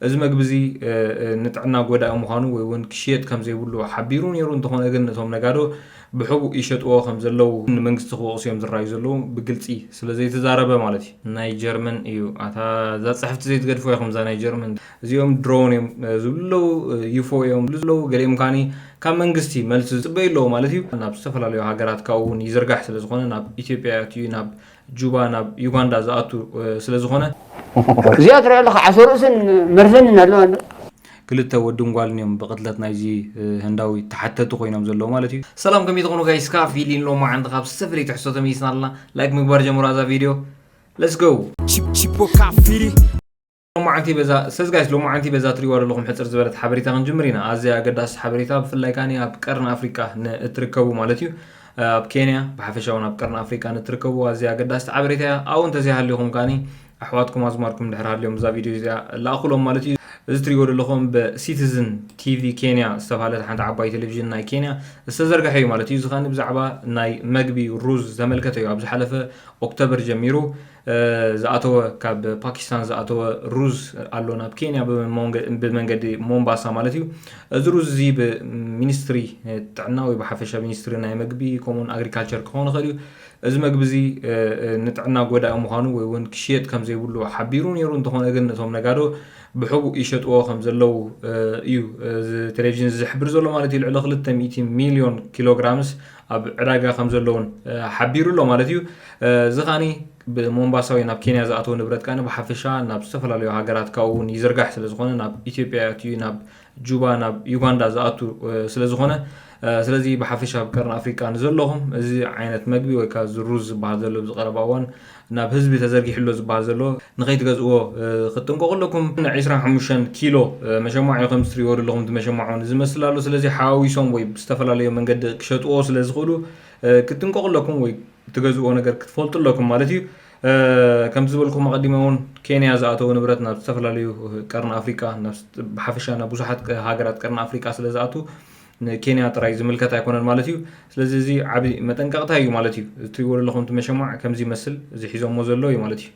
እዚ መግቢ'ዚ ንጥዕና ጎዳኢ ምዃኑ ወይ'ውን ክሽየጥ ከም ዘይብሉ ሓቢሩ ነይሩ፣ እንተኾነ ግን እቶም ነጋዶ ብሕቡእ ይሸጥዎ ከም ዘለዉ ንመንግስቲ ክወቕሱ'ዮም ዝረኣዩ ዘለዉ፣ ብግልጺ ስለ ዘይተዛረበ ማለት እዩ። ናይ ጀርመን እዩ ኣታ እዛ ጽሕፍቲ ዘይትገድፍዋ ኢኹም እዛ ናይ ጀርመን እዚኦም ድሮን እዮም ዝብሉ ኣለዉ ዩፎ እዮም ዝብሉ ዘለዉ ገሊኦም ከኣ ካብ መንግስቲ መልሲ ዝጽበዩ ኣለዉ ማለት እዩ ናብ ዝተፈላለዩ ሃገራት ካብኡ ውን ይዝርጋሕ ስለ ዝኾነ ናብ ኢትዮጵያ ኣትዩ ናብ ጁባ ናብ ዩጋንዳ ዝኣቱ ስለ ዝኾነ። እዚኣ ትርኣ ኣለኻ ዓሶ ርእስን መርዘንን ኣለዋ እንዶ። ክልተ ወድን ጓልን እዮም ብቅትለት ናይዚ ህንዳዊ ተሓተቲ ኮይኖም ዘለዉ ማለት እዩ። ሰላም ከመይ ትኾኑ ጋይስ ካብ ፊሊን ሎማዓንቲ ካብ ዝተፈላለየ ትሕዝቶ ተመይስና ኣለና ላይክ ምግባር ጀምሩ ኣዛ ቪድዮ Let's go! Chip, chip, o cafiri. ሎማዓንቲ በዛ ሰለዚ ጋይስ ሎማዓንቲ በዛ ትሪእዋ ዘለኹም ሕጽር ዝበለት ሓበሬታ ክንጅምር ኢና ኣዝያ ኣገዳሲት ሓበሬታ ብፍላይ ካኒ ኣብ ቀርኒ ኣፍሪቃ ንእትርከቡ ማለት እዩ ኣብ ኬንያ ብሓፈሻ እውን ኣብ ቀርኒ ኣፍሪቃ ንእትርከቡ ኣዝያ ኣገዳሲት ሓበሬታ እያ ኣብኡ እንተዘይሃሊኹም ካኒ ኣሕዋትኩም ኣዝማርኩም ድሕር ሃልዮም እዛ ቪድዮ እዚኣ ላእኹሎም ማለት እዩ እዚ ትሪእዎ ዘለኹም ብሲቲዝን ቲቪ ኬንያ ዝተባሃለት ሓንቲ ዓባይ ቴሌቭዥን ናይ ኬንያ ዝተዘርግሐ እዩ ማለት እዩ እዚ ካኒ ብዛዕባ ናይ መግቢ ሩዝ ዝተመልከተ እዩ ኣብ ዝሓለፈ ኦክቶበር ጀሚሩ ዝኣተወ ካብ ፓኪስታን ዝኣተወ ሩዝ ኣሎ ናብ ኬንያ ብመንገዲ ሞምባሳ ማለት እዩ እዚ ሩዝ እዚ ብሚኒስትሪ ጥዕና ወይ ብሓፈሻ ሚኒስትሪ ናይ መግቢ ከምኡውን ኣግሪካልቸር ክኸውን ይኽእል እዩ እዚ መግቢ እዚ ንጥዕና ጎዳኢ ምዃኑ ወይ እውን ክሽየጥ ከም ዘይብሉ ሓቢሩ ነይሩ እንተኾነ ግን ነቶም ነጋዶ ብሕቡእ ይሸጥዎ ከም ዘለዉ እዩ እዚ ቴሌቭዥን ዝሕብር ዘሎ ማለት እዩ ልዕሊ 200 ሚሊዮን ኪሎግራምስ ኣብ ዕዳጋ ከም ዘሎ እውን ሓቢሩ ኣሎ ማለት እዩ። እዚ ከኣ ብሞምባሳ ወይ ናብ ኬንያ ዝኣተው ንብረት ከኣ ብሓፈሻ ናብ ዝተፈላለዩ ሃገራት ካብኡ እውን ይዝርጋሕ ስለ ዝኾነ ናብ ኢትዮጵያ ኣትዩ ናብ ጁባ ናብ ዩጋንዳ ዝኣቱ ስለ ዝኾነ ስለዚ ብሓፈሻ ኣብ ቀርኒ ኣፍሪቃ ንዘለኹም እዚ ዓይነት መግቢ ወይ ከዓ እዚ ሩዝ ዝበሃል ዘሎ ብዚ ቀረባ እዋን ናብ ህዝቢ ተዘርጊሑሎ ዝብሃል ዘሎ ንኸይትገዝእዎ ክትጥንቀቑ ኣለኩም። ዒስራን ሓሙሽተን ኪሎ መሸማዕ እዩ ከምዚ ትሪእዎ ዘለኹም እቲ መሸማዕ ውን ዝመስል ኣሎ ስለዚ ሓዋዊሶም ወይ ብዝተፈላለዩ መንገዲ ክሸጥዎ ስለ ዝኽእሉ ክትጥንቀቑ ኣለኩም ወይ ትገዝእዎ ነገር ክትፈልጡ ኣለኩም ማለት እዩ። ከምቲ ዝበልኩም ኣቐዲመ ውን ኬንያ ዝኣተው ንብረት ናብ ዝተፈላለዩ ቀርኒ ኣፍሪቃ ብሓፈሻ ናብ ብዙሓት ሃገራት ቀርኒ ኣፍሪቃ ስለ ዝኣቱ ንኬንያ ጥራይ ዝምልከት ኣይኮነን ማለት እዩ። ስለዚ እዚ ዓቢ መጠንቀቕታ እዩ ማለት እዩ። እዚ ትሪእዎ ዘለኹም እቲ መሸማዕ ከምዚ ይመስል፣ እዚ ሒዞሞ ዘለዉ እዩ ማለት እዩ።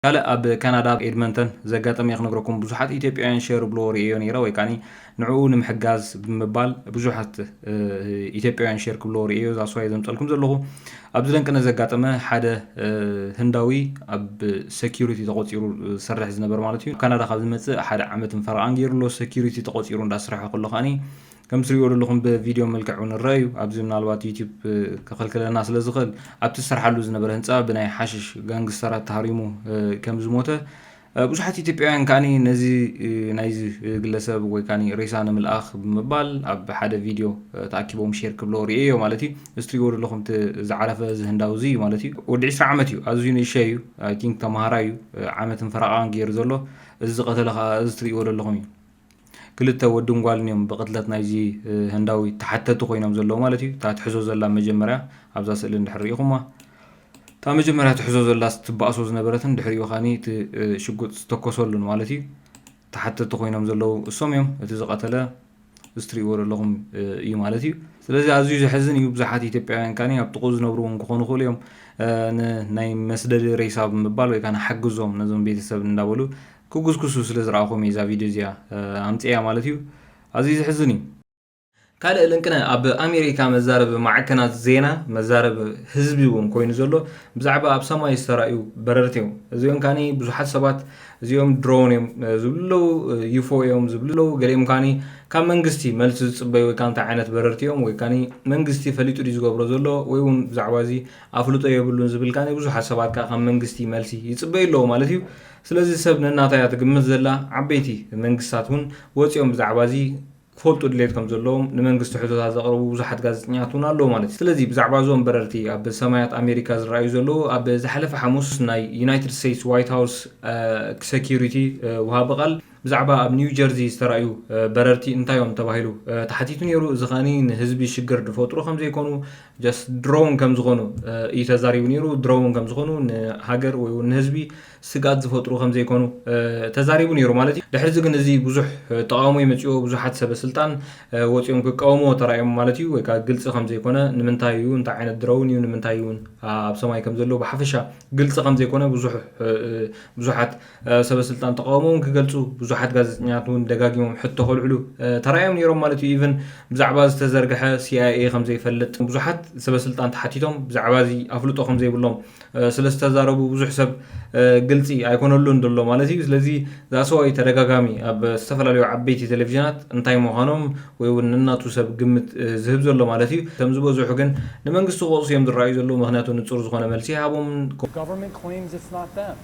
ካልእ ኣብ ካናዳ ኣብ ኤድመንተን ዘጋጠመ ክነግረኩም ብዙሓት ኢትዮጵያውያን ሸር ዝብልዎ ርእየዮ ነይረ ወይ ከዓኒ ንዕኡ ንምሕጋዝ ብምባል ብዙሓት ኢትዮጵያውያን ሸር ክብልዎ ርእየዮ ዛስዋየ ዘምጸልኩም ዘለኹ ኣብዚ ደንቅነ ዘጋጠመ ሓደ ህንዳዊ ኣብ ሰኪሪቲ ተቆጺሩ ዝሰርሕ ዝነበር ማለት እዩ ካናዳ ካብ ዝመጽእ ሓደ ዓመትን ፈረቓን ገይሩ ኣሎ ሰኪሪቲ ተቆጺሩ እንዳስርሐ ከሎ ከኣኒ ከምቲ ትሪእዎ ዘለኹም ብቪድዮ መልክዕ እውን ይረአ እዩ ኣብዚ ምናልባት ዩቲዩብ ከኸልክለና ስለ ዝኽእል ኣብቲ ዝሰርሓሉ ዝነበረ ህንፃ ብናይ ሓሽሽ ጋንግስተራት ተሃሪሙ ከም ዝሞተ ብዙሓት ኢትዮጵያውያን ከኣ ነዚ ናይዚ ግለሰብ ወይ ከኣ ሬሳ ንምልኣኽ ብምባል ኣብ ሓደ ቪድዮ ተኣኪቦም ሼር ክብለዎ ርእየዮ ማለት እዩ። እዚ ትሪእዎ ዘለኹም እቲ ዝዓረፈ እዚ ህንዳዊ እዚ እዩ ማለት እዩ። ወዲ ዕስራ ዓመት እዩ ኣዝዩ ንእሸይ እዩ ኣይ ቲንክ ተማሃራይ እዩ ዓመትን ፈረቓን ጌሩ ዘሎ እዚ ዝቐተለ ከኣ እዚ ትሪእዎ ዘለኹም እዩ። ክልተ ወድን ጓልን እዮም ብቅትለት ናይዚ ህንዳዊ ተሓተቲ ኮይኖም ዘለዉ ማለት እዩ። እታ ትሕዞ ዘላ መጀመርያ ኣብዛ ስእሊ እንድሕር ርኢኹማ እታ መጀመርያ ትሕዞ ዘላስ ትባእሶ ዝነበረትን ድሕሪኡ ካኒ እቲ ሽጉጥ ዝተኮሰሉን ማለት እዩ። ተሓተቲ ኮይኖም ዘለዉ እሶም እዮም እቲ ዝቀተለ እዚ ትርእይዎ ዘለኹም እዩ ማለት እዩ። ስለዚ ኣዝዩ ዘሕዝን እዩ ብዙሓት ኢትዮጵያውያን ካኒ ኣብ ጥቅኡ ዝነብሩ እውን ክኾኑ ይኽእሉ እዮም ንናይ መስደዲ ሬሳ ብምባል ወይ ካኒ ሓግዞም ነዞም ቤተሰብ እንዳበሉ ክጉስጉሱ ስለ ዝረኣኹም እየ እዛ ቪድዮ እዚኣ ኣምጺኤያ ማለት እዩ። ኣዝዩ ዘሕዝን እዩ። ካልእ ልንቅነ ኣብ ኣሜሪካ መዛረቢ ማዕከናት ዜና መዛረቢ ህዝቢ እውን ኮይኑ ዘሎ ብዛዕባ ኣብ ሰማይ ዝተራእዩ በረርቲ እዮም። እዚኦም ካኒ ብዙሓት ሰባት እዚኦም ድሮን እዮም ዝብሉ ኣለዉ፣ ዩፎ እዮም ዝብሉ ኣለዉ፣ ገሊኦም ካኒ ካብ መንግስቲ መልሲ ዝጽበዩ ወይ ከዓ እንታይ ዓይነት በረርቲ እዮም ወይ ካኒ መንግስቲ ፈሊጡ ድዩ ዝገብሮ ዘሎ ወይ እውን ብዛዕባ እዚ ኣፍልጦ የብሉን ዝብል ካኒ ብዙሓት ሰባት ከዓ ካብ መንግስቲ መልሲ ይጽበዩ ኣለዉ ማለት እዩ። ስለዚ ሰብ ነናታ እያ ትግምት ዘላ፣ ዓበይቲ መንግስታት እውን ወጺኦም ብዛዕባ እዚ ክፈልጡ ድሌት ከም ዘለዎም ንመንግስቲ ሕቶታት ዘቕርቡ ብዙሓት ጋዜጠኛታት እውን ኣለዉ ማለት እዩ። ስለዚ ብዛዕባ እዞም በረርቲ ኣብ ሰማያት ኣሜሪካ ዝረኣዩ ዘለዉ ኣብ ዝሓለፈ ሓሙስ ናይ ዩናይትድ ስቴትስ ዋይት ሃውስ ሰክዩሪቲ ወሃቢ ቃል ብዛዕባ ኣብ ኒው ጀርዚ ዝተራእዩ በረርቲ እንታይ እዮም ተባሂሉ ተሓቲቱ ነይሩ። እዚ ከኣ ንህዝቢ ሽግር ዝፈጥሩ ከም ዘይኮኑ ጀስት ድሮን ከም ዝኾኑ እዩ ተዛሪቡ ነይሩ። ድሮን ከም ዝኾኑ ንሃገር ወይ እውን ንህዝቢ ስግኣት ዝፈጥሩ ከም ዘይኮኑ ተዛሪቡ ነይሩ ማለት እዩ። ድሕሪ እዚ ግን እዚ ብዙሕ ተቓውሞ ይመፅኦ ብዙሓት ሰበ ስልጣን ወፂኦም ክቃወምዎ ተራእዮም ማለት እዩ። ወይ ከዓ ግልፂ ከም ዘይኮነ ንምንታይ እዩ እንታይ ዓይነት ድሮን እዩ ንምንታይ እውን ኣብ ሰማይ ከም ዘሎ ብሓፈሻ ግልፂ ከም ዘይኮነ ብዙሕ ብዙሓት ሰበስልጣን ተቓውሞኦም ክገልጹ፣ ብዙሓት ጋዜጠኛታት እውን ደጋጊሞም ሕቶ ከልዕሉ ተራእዮም ነይሮም ማለት እዩ። ኢቭን ብዛዕባ ዝተዘርግሐ ሲኣይኤ ከም ዘይፈልጥ ብዙሓት ሰበስልጣን ተሓቲቶም ብዛዕባ እዚ ኣፍልጦ ከም ዘይብሎም ስለ ዝተዛረቡ ብዙሕ ሰብ ግልጺ ኣይኮነሉን ዘሎ ማለት እዩ። ስለዚ ዛሰዋይ ተደጋጋሚ ኣብ ዝተፈላለዩ ዓበይቲ ቴሌቪዥናት እንታይ ምዃኖም ወይ እውን ነናቱ ሰብ ግምት ዝህብ ዘሎ ማለት እዩ። እቶም ዝበዝሑ ግን ንመንግስቲ ክወቕሱ እዮም ዝረኣዩ ዘለዉ፣ ምኽንያቱ ንጹር ዝኾነ መልሲ ኣይሃቦምን።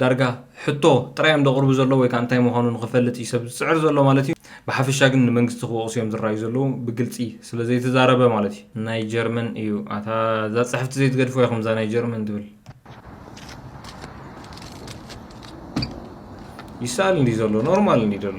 ዳርጋ ሕቶ ጥራይ እዮም ዘቕርቡ ዘለዉ ወይ ከኣ እንታይ ምዃኑ ንኽፈልጥ እዩ ሰብ ዝጽዕር ዘሎ ማለት እዩ። ብሓፈሻ ግን ንመንግስቲ ክወቕሱ እዮም ዝረኣዩ ዘለዉ ብግልጺ ስለ ዘይተዛረበ ማለት እዩ። ናይ ጀርመን እዩ ኣታ እዛ ጽሕፍቲ ዘይትገድፍዋ ኢኹም እዛ ናይ ጀርመን ትብል። ይሰኣል እንዲ ዘሎ ኖርማል እንዲ ዘሎ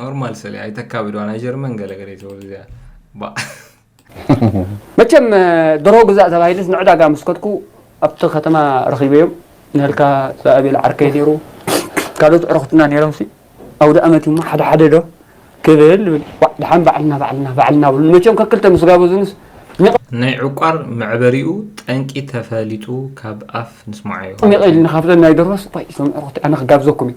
ኖርማል ሰለ ኣይተካብድዋ ናይ ጀርመን ገለገለ ይትበሉ እዚኣ መቸም ድሮ ግዛእ ተባሂልስ ንዕዳጋ ምስ ከድኩ ኣብቲ ከተማ ረኺበዮም ንህልካ ዝኣቤል ዓርከይ ነይሩ ካልኦት ዕረኽትና ነይሮም ሲ ኣውደ ኣመት እዩሞ ሓደ ሓደ ዶ ክብል ብል ድሓን ባዕልና ባዕልና ባዕልና ብሉ መቸም ከክልተ ምስ ጋበዙንስ ናይ ዕቋር መዕበሪኡ ጠንቂ ተፈሊጡ ካብ ኣፍ ንስማዓዮ ሚቐኢልና ካብዘን ናይ ደርሆስ ቆይ እዞም ዕረኽቲ ኣነ ክጋብዘኩም እዩ